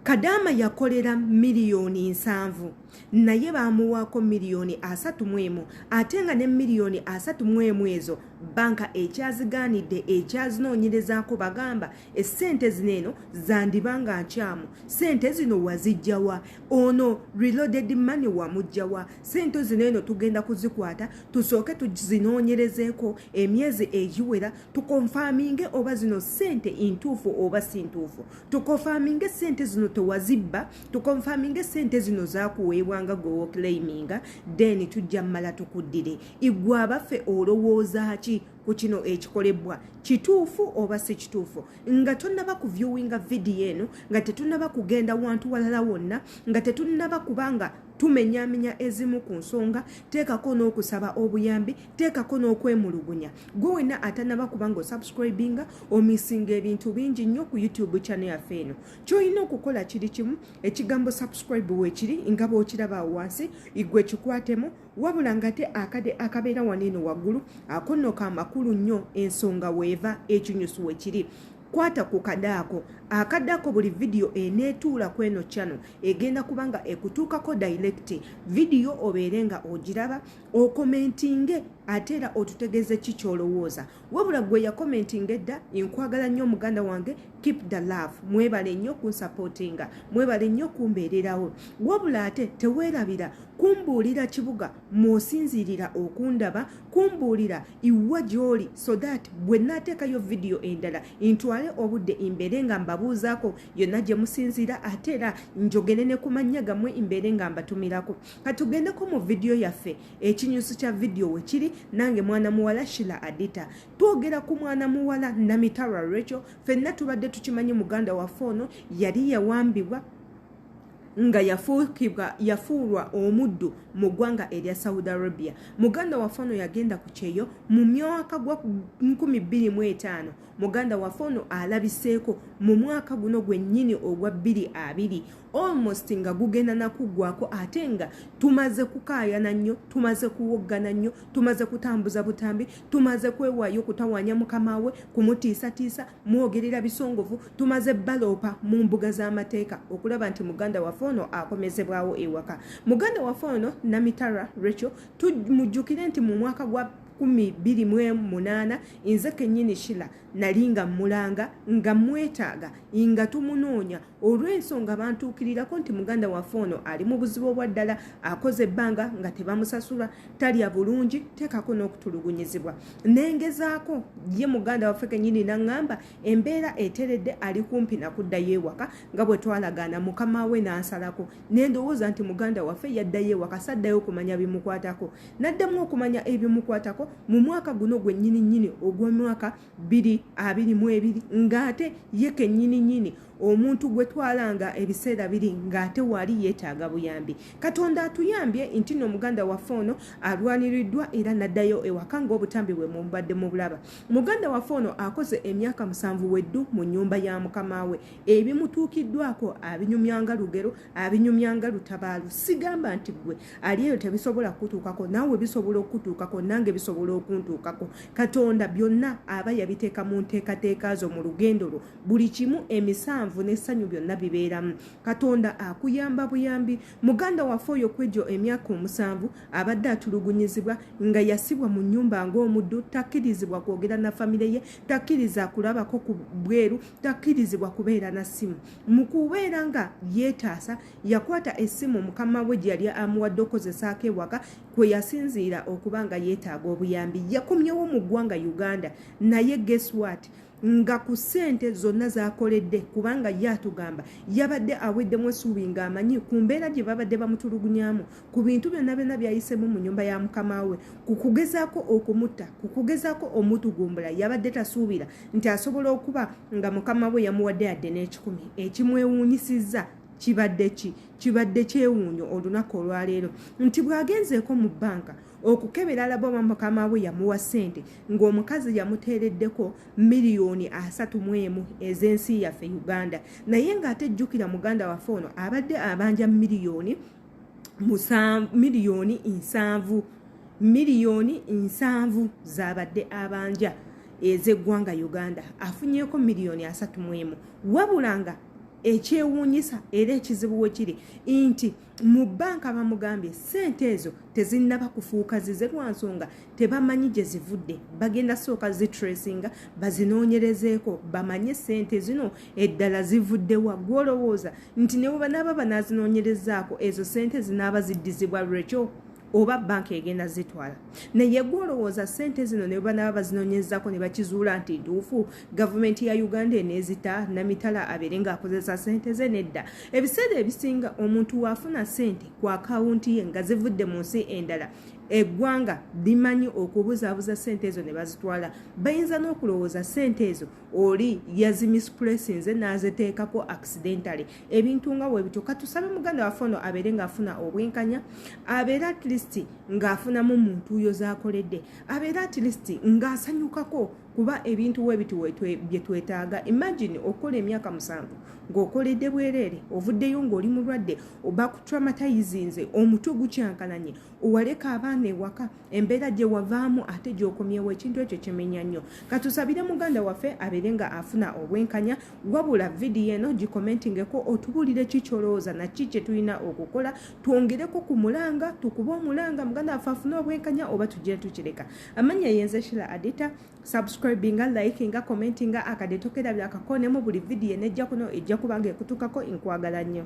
kadaama yakolera miliyoni nsanvu naye baamuwaako miliyoni asatu mu emu ate nga ne miliyoni asatu mu emu ezo banka ekyazigaanidde ekyazinoonyerezaako bagamba essente zino eno zandiba nga nkyamu sente zino wazijjawa ono reloaded money wamujjawa sente zino eno tugenda kuzikwata tusooke tuzinoonyerezeeko emyezi egiwera tukonfaminge oba zino sente intuufu oba si ntuufu tukonfaminge sente zino tewazibba tukonfaminge sente zino zakuweebwanga gwewokilayiminga then tujja mumala tukuddire igwe abaffe olowooza ki ku kino ekikolebwa kituufu oba si kituufu nga tonaba ku viewinga vidiyo eno nga tetunaba kugenda wantu walala wonna nga tetunaba kubanga tumenyamenya ezimu ku nsonga teekako n'okusaba obuyambi teekako n'okwemulugunya gwe wenna atanaba kubanga osubscribinga omisinga ebintu bingi nnyo ku youtube chane yaffe eno kyolina okukola kiri kimu ekigambo subscribe wekiri nga bwokiraba wansi igwe kikwatemu wabula ngate akade akabeera wano eno waggulu akonno ka makulu nnyo ensonga weeva ekinyusu wekiri kwata ku kadaako akadaako buli vidiyo eneetuula ku eno kyano egenda kubanga ekutuukako dayirekiti vidiyo obeere nga ogiraba okomentinge ate era otutegeze ki kyolowooza wabula gwe yakomentinga edda nkwagala nnyo omuganda wange keep the love mwebale nnyo kunsapootinga mwebale nnyo kumbeererawo wabula ate teweerabira kumbuulira kibuga mwosinziirira okundaba kumbuulira iwa gy'oli so that bwe naateekayo vidiyo endala ntwale obudde imbeere nga mbabuuzaako yonna gye musinziira ate era njogere ne ku mannya gammwe imbeere nga mbatumirako katugendeko mu vidiyo yaffe ekinyusi kya vidiyo wekiri nange mwana muwala shila adita twogera ku mwana muwala namitara recho fenna tubadde tukimanyi muganda waffe ono yali yawambibwa nga yafuukibwa yafuulwa omuddu mu ggwanga erya saudi arabia muganda waffe ono yagenda ku kyeyo mu myaka gwa 25 muganda waffe ono alabiseeko mu mwaka guno gwennyini ogwa 22 almost nga gugenda nakuggwako ate nga tumaze kukaayana nnyo tumaze kuwoggana nnyo tumaze kutambuza butambi tumaze kwewaayo okutawanya mukama we kumutiisatiisa mwogerera bisongovu tumaze baloopa mu mbuga z'amateeka okulaba nti muganda waffe ono akomezebwawo ewaka muganda waffe ono namitara recho tumujjukire nti mu mwaka gwa kumi biri mu munaana nze kennyini shila nali nga mmulanga nga mmwetaaga nga tumunoonya olw'ensonga bantuukirirako nti muganda waffe ono ali mu buzibu obwa ddala akoze ebbanga nga tebamusasula talya bulungi teekako n'okutulugunyizibwa nengezaako ye muganda waffe kenyini naŋŋamba embeera eteredde ali kumpi nakuddayo ewaka nga bwe twalagaana mukama we n'ansalako nendowooza nti muganda waffe yaddayo ewaka saddayo okumanya bimukwatako naddamu okumanya ebimukwatako mu mwaka guno gwennyini nnyini ogw'omwaka biri abiri mu ebiri ng'ate ye kennyini nyini omuntu gwe twalanga ebiseera biri ng'ate waali yeetaaga buyambi katonda atuyambye nti no muganda waffe ono alwaniriddwa era naddayo ewaka ng'obutambi bwe mubadde mu bulaba muganda waffe ono akoze emyaka musanvu weddu mu nnyumba ya mukama we ebimutuukiddwako abinyumyanga lugero abinyumya nga lutabaalu sigamba nti gwe ali eyo tebisobola kukutuukako naawe bisobola okukutuukako nange bisobola okuntuukako katonda byonna aba yabiteeka mu nteekateeka zo mu lugendo lwo buli kimu emisanvu n'essanyu byonna bibeeramu katonda akuyamba buyambi muganda waffe oyo kwegyo emyaka omusanvu abadde atulugunyizibwa nga yasibwa mu nnyumba ng'omuddu takkirizibwa kwogera na famire ye takkiriza kulabako ku bweru takkirizibwa kubeera na ssimu mu kubeera nga yeetaasa yakwata essimu mukama we gye yali amuwadde okukozesaako ewaka kwe yasinziira okuba nga yeetaaga obuyambi yakomyewo mu ggwanga uganda naye geswat nga ku ssente zonna zakoledde kubanga ye atugamba yabadde aweddemu esuubi ng'amanyi ku mbeera gye babadde bamutulugunyamu ku bintu byonna byonna byayisemu mu nyumba ya mukama we ku kugezaako okumutta ku kugezaako omutugumbula yabadde tasuubira nti asobola okuba nga mukama we yamuwadde yadde n'ekikumi ekimwewuunyisizza kibadde ki kibadde kyewuunyo olunaku olwaleero nti bw'agenzeeko mu bbanka okukebera alaba oba mukama we yamuwa ssente ng'omukazi yamuteereddeko miliyoni asatu mu emu ez'ensi yaffe uganda naye ng'ate jjukira muganda waffe ono abadde abanja miliyoni miliyoni nsanvu miliyoni nsanvu zabadde abanja ezeggwanga uganda afunyeko miliyoni asatu mu emu wabula nga ekyewuunyisa era ekizibu we kiri nti mu bbanka bamugambye ssente ezo tezinnaba kufuuka zize lwa nsonga tebamanyi gye zivudde bagenda sooka zitresinga bazinoonyerezeeko bamanye sente zino eddala zivuddewa gwolowooza nti ne webanaaba banaazinoonyerezaako ezo sente zinaaba ziddizibwa lwekyo oba banka egenda zitwala naye gwolowooza sente zino ne banaaba bazinoonyezako ne bakizuula nti ntuufu gavumenti ya uganda eneezita namitala abeere ng'akozesa sente ze nedda ebiseera ebisinga omuntu waafuna sente ku akawunti ye nga zivudde mu nsi endala eggwanga limanyi okubuzaabuza sente ezo ne bazitwala bayinza n'okulowooza sente ezo oli yazimispulesinze n'aziteekako accidentally ebintu nga webityo katusabe muganda waffe ono abeere ng'afuna obwenkanya abeere at least ng'afunamu muntu yo z'akoledde abeere at least ng'asanyukako kuba ebintu webiti bye twetaaga imagine okukola emyaka musanvu ng'okoledde bwereere ovuddeyo ng'oli mulwadde oba kutraumatizinze omutwe gukyankalanye waleka abaana ewaka embeera gye wavaamu ate gyokomyewo ekintu ekyo kimenya nnyo katusabire muganda waffe abeere nga afuna obwenkanya wabula vidiyo eno gikomentingeko otubuulire ki kyolowooza naki kye tulina okukola twongereko ku mulanga tukube omulanga muganda waffe afune obwenkanya oba tujje tukireka amanya yenze shila adita subscribinga likinga commentinga akadetokera byakakonemu buli vidiyo enejja kuno ejja kubanga ekutukako enkwagala nnyo